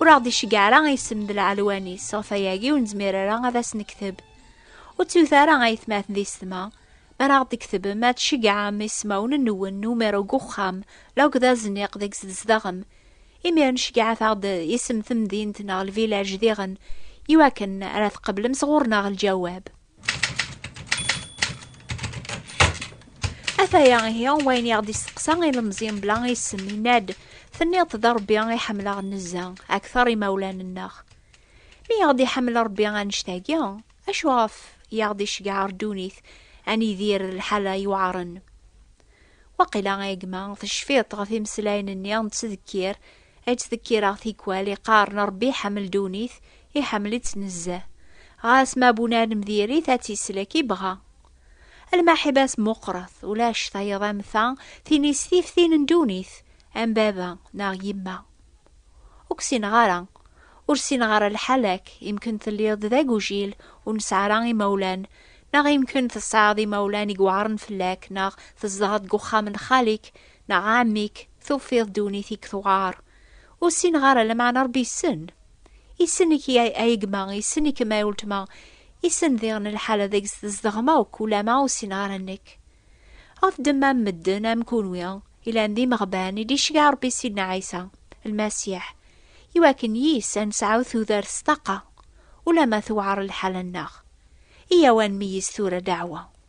Ur aɣ-d-iceggeɛ ara a isem d lɛelwan-is, ɣef ayagi ur nezmir ara ad as-nekteb. Ur ttewt ara a aytmaten di setma, mi ara aɣ-d-tektbem ad tceggɛem ismawen-nwen n umirew deg uxxam la akked azniq deg tzedɣem. Imiren ceggɛet-aɣ-d isem temdint neɣ lvilaj diɣen iwakken ara tqeblem sɣur-neɣ lǧawab. Ataya ihi wayen i aɣ-d-isteqsa ilemẓi mebla isem yenna-d tenniḍ-t d Rebbi i ḥemmleɣ nezza akteṛ imawlan-nneɣ. Mi aɣ-d-iḥemmel Rebbi annect-agi, acu ɣef i aɣ-d-iceggeɛ ar ddunit ad nidir d lḥala yuɛren? Waqila a gma tecfiḍ-t ɣef imeslayen-nni n ttdekkir Ad tt-tekkireɣ tikwal iqqaren Ṛebbi iḥemmel ddunit, iḥemmel-itt nezzeh. Ɣas ma bu nadem diri-t ad tt-islek i bɣa. Lmaḥiba-s meqqret, ulac tayeḍ am ta, tin-is tif tin n ddunit, am baba neɣ yemma. Ur k-ssineɣ ara. Ur ssineɣ ara lḥal-ak, imken telliḍ-d d agujil, ur nesɛi ara imawlan, neɣ imken tesɛiḍ imawlan i iweɛren fell-ak, neɣ tzedɣeḍ deg uxxam n xali-k, neɣ ɛemmi-k. Tufiḍ ddunit i k-tuɣar. Ur ssineɣ ara, lameɛna Ṛebbi yessen. Yessen-ik ay gma, yessen-ikem ay uletma, yessen diɣen lḥala deg-s tzedɣem akk, ulama ur ssineɣ ara nekk. Ɣef ddemma n medden am kunwi, ilan d imeɣban i d-iceggeɛ Ṛebbi Sidna Ɛisa, Lmasiḥ, i wakken yis ad nesɛu tudert s ṭṭaqa, ulama tewɛer lḥala-nneɣ. Iyyaw ad nmeyyez tura ddeɛwa.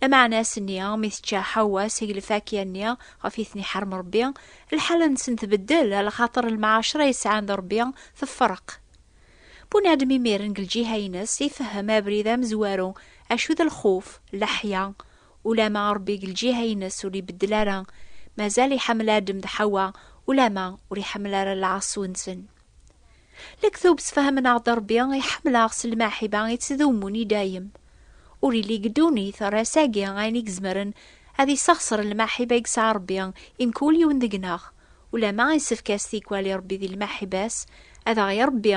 Lamaɛna ass-nni mi tečča Ḥawwa seg lfakya-nni ɣef i ten-iḥerrem Ṛebbi, lḥala-nsen tbeddel, a lxaṭer lmɛacra i sɛan d Ṛebbi tefreq. Bunadem imiren deg lǧiha-ines ifehhem abrid amezwaru, acu d lxuf, leḥya. Ulama Ṛebbi deg lǧiha-ines ur ibeddel ara, mazal iḥemmel Adem d Ḥawwa, ulama ur iḥemmel ara lɛaṣu-nsen. Lektub sefhamen-aɣ-d Rebbi iḥemmel-aɣ s lmaḥiba yettdumun i dayem. Ur yelli deg ddunit ar ass-agi ayen i izemren ad yesexṣer lmaḥiba i yesɛa Rebbi i mkul yiwen deg-neɣ, ulamma yessefk-as tikwal i Rebbi di lmaḥiba-s ad aɣ-irebbi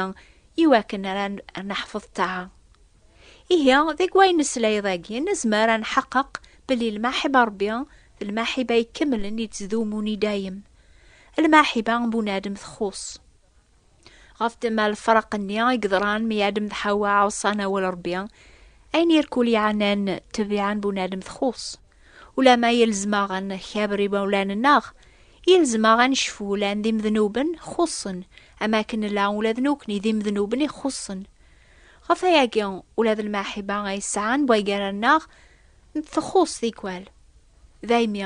iwakken ar neḥfeḍ ṭṭaɛa. Ihi, deg wayen nesla dagi nezmer ad nḥeqqeq belli lmaḥiba n Rebbi d lmaḥiba ikemlen yettdumun i dayem. Lmaḥiba n bunadem txuṣ. Ɣef ddemma lefraq-nni i yeḍran mi Adem d Ḥawa ɛuṣan awal Rebbi, ayen irkul yeɛnan ttabiɛa n bunadem txuṣ. Ulamma yelzem-aɣ ad nkaber imawlan-nneɣ, yelzem-aɣ ad necfu llan d imednuben xuṣṣen, am akken nella ula d nekkni d imednuben i xuṣṣen. Ɣef wayagi, ula d lmaḥiba ay sɛan waygaran-nneɣ txuṣ tikwal. Daymi,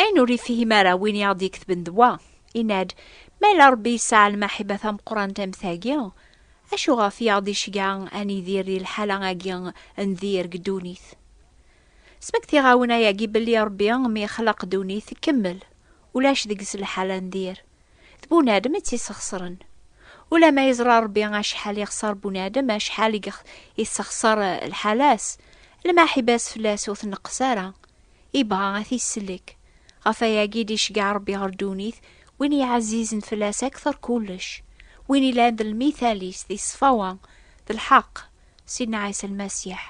Ayen ur ifhim ara win i aɣ-d-iketben d wa, yenna-d, Ma yella Ṛebbi yesɛa lmaḥiba tameqqrant am tagi, acu ɣef i aɣ-d-iceggeɛ ad nidir di lḥala-agi n dir deg ddunit? Smektiɣ-awen ayagi belli Ṛebbi mi yexleq ddunit tkemmel, ulac deg-s lḥala n dir, d bunadem i tt-isexṣren. Ulamma yeẓra Ṛebbi acḥal yexṣer bunadem, acḥal i yessexṣer lḥala-s, lmaḥiba-s fell-as ur tneqqes ara, Ibɣa a t-isellek. Ɣef ayagi i d-iceggeɛ Rebbi ɣer ddunit, win yeɛzizen fell-as akteṛ kullec, win ilan d lmithal-is di ṣṣfawa, d lḥeqq, Sidna Ɛisa Lmasiḥ.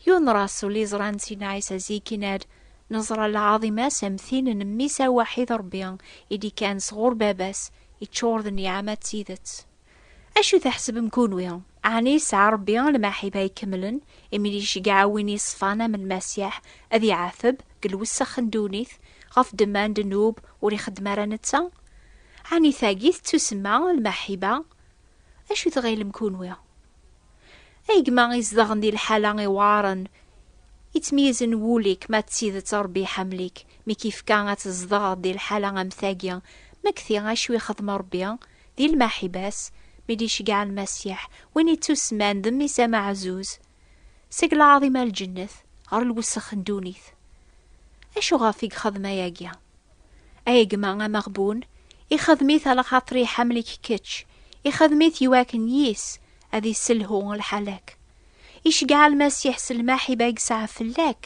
Yiwen rasul iẓran Sidna Ɛisa zik yenna-d, Neẓra lɛaḍima-s am tin n Mmi-s awaḥid Rebbi i d-ikkan sɣur Baba-s, iččur d nniɛama d tidet. Acu tḥesbem kunwi? Ɛni yesɛa Ṛebbi lmaḥiba ikemlen imi d iceggeɛ win yeṣfan am Lmasiḥ ad iɛateb deg lwessex n ddunit ɣef ddemma n ddnub ur ixeddem ara netta? Ɛni tagi tettusemma lmaḥiba? Acu tɣilem kunwi? Ay gma izedɣen di lḥala iweɛṛen, yettmeyyizen wul-ik ma d tidet Ṛebbi iḥemmel-ik mi k-yefka ad tzedɣeḍ di lḥala am tagi, ma kti acu ixeddem Ṛebbi Di lmaḥiba-s, mi d-iceggeɛ Lmasiḥ, win ittusemman d Mmi-s ameɛzuz, seg lɛaḍima n lǧennet ɣer lwessex n ddunit. Acu ɣef i yexdem ayagi? Ay gma ameɣbun, ixdem-it ala xaṭer iḥemmel-ik kečč, ixdem-it i wakken yis ad isselhu lḥal-ak. Iceggeɛ Lmasiḥ s lmaḥiba i yesɛa fell-ak,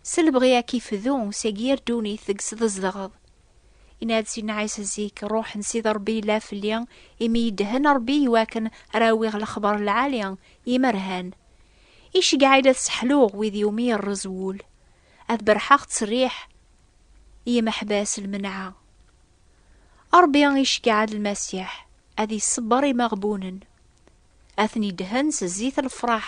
s lebɣi ad k-ifdu seg yir ddunit deg-s tzedɣeḍ. Inna-d Sidna Ɛisa zik, Ṛuḥ n Sidi Ṛebbi yella fell-i, imi yeddhen Ṛebbi i wakken ara awiɣ lexbaṛ n lɛali i yimerhan. Iceggeɛ-iyi la sseḥluɣ wid iwumi yerreẓ wul, ad berrḥeɣ ttserriḥ i yimeḥbas n lmenɛa. Ṛebbi iceggeɛ-d Lmasiḥ ad iṣebber imeɣbunen, ad ten-iddhen s zzit n lefṛaḥ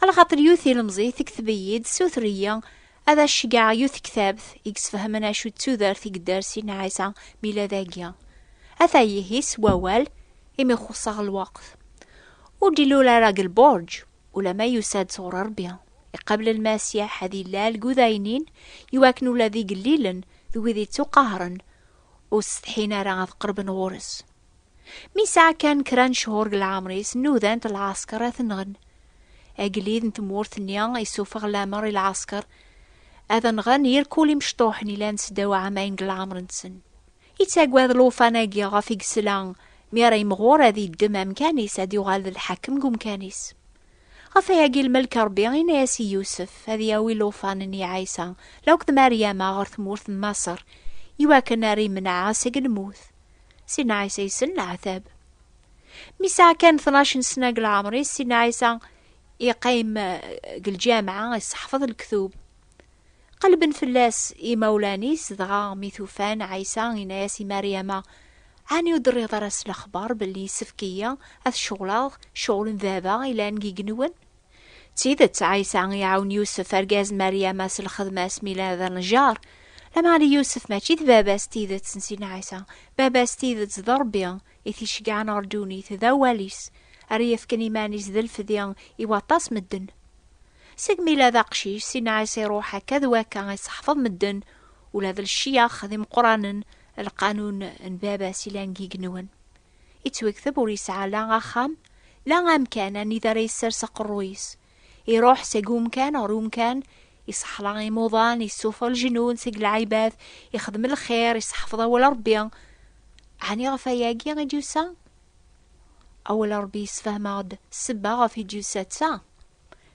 Ala xaṭer yiwet ilemẓi tekteb-iyi-d suter-iyi ad as-ceggɛeɣ yiwet tektabt i yesfehmen acu d tudert i yedder Sidna Ɛisa Milad-agi. Ata ihi s wawal, imi xuṣṣeɣ lweqt. Ur d-ilul ara deg lbuṛǧ, ulamma yusa-d sɣur Ṛebbi, iqabel Lmasiḥ ad illal deg udaynin, iwakken ula d igellilen d wid ittuqahren ur setḥin ara ad qerben ɣur-s. Mi sɛa kan kra n cehur deg leɛmer-is, nudan-t lɛasker ad t-nɣen. Agellid n tmurt-nni isufeɣ lamer i lɛasker ad nɣen yir kul imecṭuḥen ilan seddaw ɛamayen deg leɛmer-nsen. Yettagad lufan-agi ɣef i yesla mi ara yemɣur ad yeddem amkan-is ad yuɣal d lḥakem deg umkan-is. Ɣef ayagi lmelk Rebbi yenna-as i Yusef ad yawi lufan n Ɛisa law d Maryama ɣer tmurt n Maṣer iwakken ara imenɛa seg lmut. Sidna Ɛisa yessen leɛtab. Mi sɛa kan tnac n sna deg leɛmer-is, Sidna Ɛisa iqqim deg eh, lǧameɛ, isseḥfeḍ lektub. Qelben fell-as imawlan-is, dɣa mi tufan Ɛisa yenna-as i Maryama, Ɛni ur d-terriḍ ara s lexbar belli yessefk-iyi ad ceɣleɣ ccɣel n baba ilan deg yigenwen? D tidet, Ɛisa iɛawen Yusef argaz n Maryama s lxedma-s mi yella d anejjar. Lameɛna Yusef mačči d baba s tidet n Sidna Ɛisa. Baba s tidet d Ṛebbi i t-iceggɛen ɣer ddunit, d awal-is ara yefken iman-is d lfdi i waṭas medden. Segmi yella d aqcic, Sidna Ɛisa iṛuḥ akka d wakka iseḥfeḍ medden, ula d lecyax d imeqqranen, lqanun n baba-s yellan deg yigenwen. Yettwekteb ur yesɛa la axxam, la amkan anida ara yessers aqerruy-is. Iruḥ seg umkan ɣer umkan, isexla imuḍan, yessuffeɣ leǧnun seg lɛibad, ixdem lxir, iseḥfeḍ awal Rebbi. Ɛni ɣef wayagi i d-yusa? Awal Rebbi yessefhem-aɣ-d ssebba ɣef i d-yusa d ta.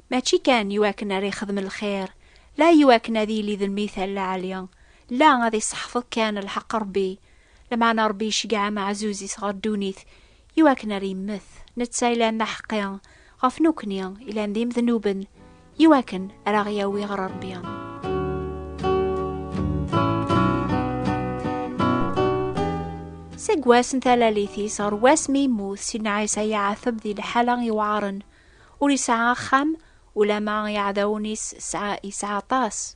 Mačči kan i wakken ara ixdem lxir, la i wakken ad yili d mmi-t a lɛali, la ad iseḥfeḍ kan lḥeq n Rebbi, lameɛna Rebbi iceggeɛ ameɛzuz-is ɣer ddunit i wakken ara yemmet, netta yellan d aḥeqqi ɣef nekkni yellan d imednuben, i wakken ara aɣ-yawi ɣer Rebbi. Seg wass n talalit-is ɣer wass mi yemmut Sidna Ɛisa iɛateb di liḥala iweɛren. Ur yesɛa axxam, ulamma i iɛdawen-is yesɛa aṭas.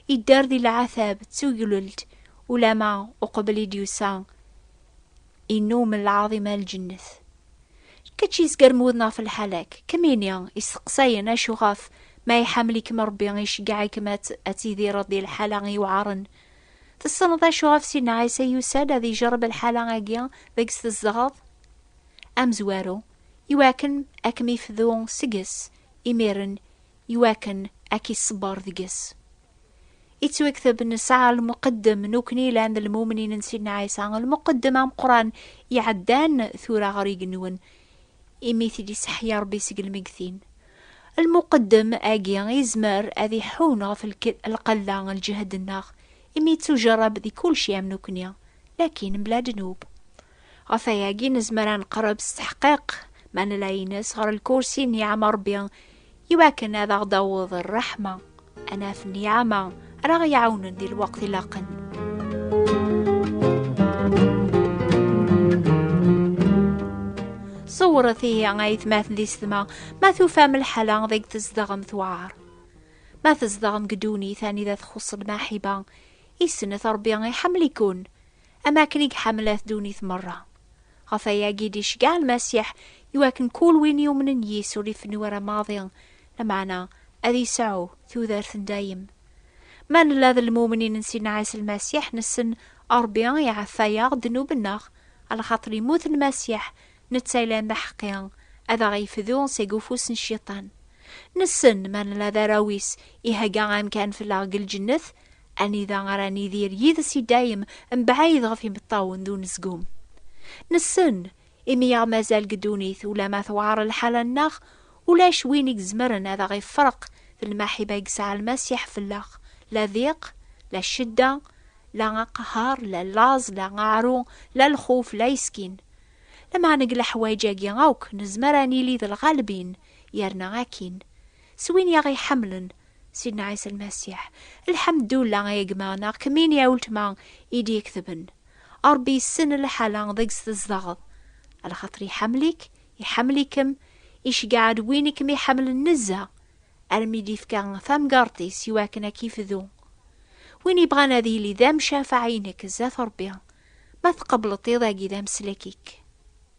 Idder di leɛtab d tuglelt, ulamma uqbel i d-yusa innumen lɛaḍima n lǧennet. Kečč yezgaren wudem ɣef lḥal-ak, kemmini isteqsayen acuɣef ma iḥamel-ikem Rebbi iceggeɛ-ikem ad tidireḍ di lḥala iwɛaren? Tessneḍ acuɣef Sidna Ɛisa yusa-d ad ijerreb lḥala-agi deg-s tzedɣeḍ? Amezwaru, Iwakken a kem-ifdu seg-s, imiren iwakken a k-iṣebber deg-s. Ittwekteb nesɛa lmuqeddem nukni lan d lmumnin n Sidna Ɛisa, lmuqeddem ameqqran iɛeddan tura ɣer igenwen, imi t-id-iseḥya Rebbi seg lmegtin. Lmuqeddem agi izmer ad iḥun ɣef lqella n lǧehd-nneɣ, imi ittujerreb di kulci am nukni, lakin mebla ddnub. Ɣef wayagi nezmer ad neqreb s teḥqiq ma nla ines ɣer lkursi n yiɛmerbi iwakken ad aɣ-d-aweḍ rreḥma, anaf n yiɛama ara aɣ-iɛawnen di lweqt ilaqen. Ṣewret ihi ay tmaten di setma ma tufam lḥala deg tzedɣem tewɛer. Ma tzedɣem deg ddunit anida txuṣṣ lmaḥiba, isnet Ṛebbi iḥemmel-iken. am akken i iḥemmel-at ddunit merra. Ɣef ayagi d-iceggeɛ Lmasiḥ i wakken kul win yumnen yis ur ifennu ara maḍi, lameɛna ad yesɛu tudert n dayem. Ma nella d lmumnin n Sidna Ɛisa Lmasiḥ nessen Ṛebbi iɛeffa-yaɣ ddnub-nneɣ, alxaṭer immut Lmasiḥ, netta yellan d aḥeqqi, ad aɣ-yefdu seg ufus n Cciṭan. Nessen ma nella d arraw-is ihegga amkan fell-aɣ deg lǧennet, anida ara nidir yid-s i dayem mebɛid ɣef imeṭṭawen d unezgum nessen imi yaɣ mazal deg ddunit ulama tewɛer lḥala-nneɣ ulac win i gezmeren ad aɣ-ifreq d lmaḥiba i yesɛa lmasiḥ fell-aɣ la diq la ccedda la aqehhar la laẓ la aɛru la lxuf la yeskin lameɛna deg leḥwayeǧ-agi akk nezmer ad nili d lɣalbin yerna akkin s win yaɣ-iḥemmlen Sidna Ɛisa Lmasiḥ. Lḥemdullah ay gma neɣ kemmini ay weltma i d-yeketben. Ṛebbi yessen lḥala deg-s tzedɣeḍ. Lxaṭer iḥemmel-ik, iḥemmel-ikem, iceggeɛ-d win i kem-iḥemmlen nezzeh, armi d-yefka tamgerṭ-is i wakken ad k-ifdu. Win yebɣan ad yili d amcafaɛ-inek zdat Ṛebbi, ma tqebleḍ iḍ-agi d amslek-ik.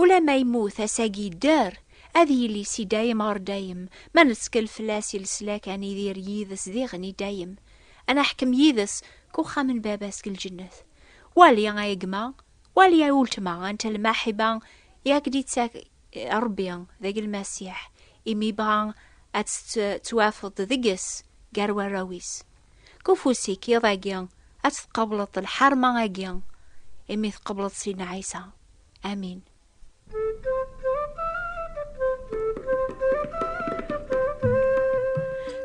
Ula ma yemmut ass-agi yedder, ad yili si dayem ɣer dayem, ma nettkel fell-as i leslak ad nidir yid-s diɣen i dayem, ad naḥkem yid-s deg uxxam n Baba-s deg lǧennet. Wali a gma, wali a uletma anta lmaḥiba i ak-d-ittak Rebbi deg Lmasiḥ, imi yebɣa ad tettwafeḍ deg-s gar warraw-is. Deg ufus-ik iḍ-agi ad tt-tqableḍ lḥerma-agi, imi tqableḍ Sidna Ɛisa. Amin.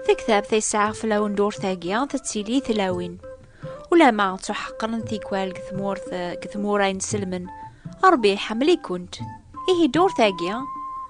Tektabt ay sɛiɣ fell-awen durt-agi tettili i tlawin. Ulama ttuḥeqqren tikwal deg tmurt deg tmura inselmen. Ṛebbi iḥemmel-ikent. Ihi durt-agi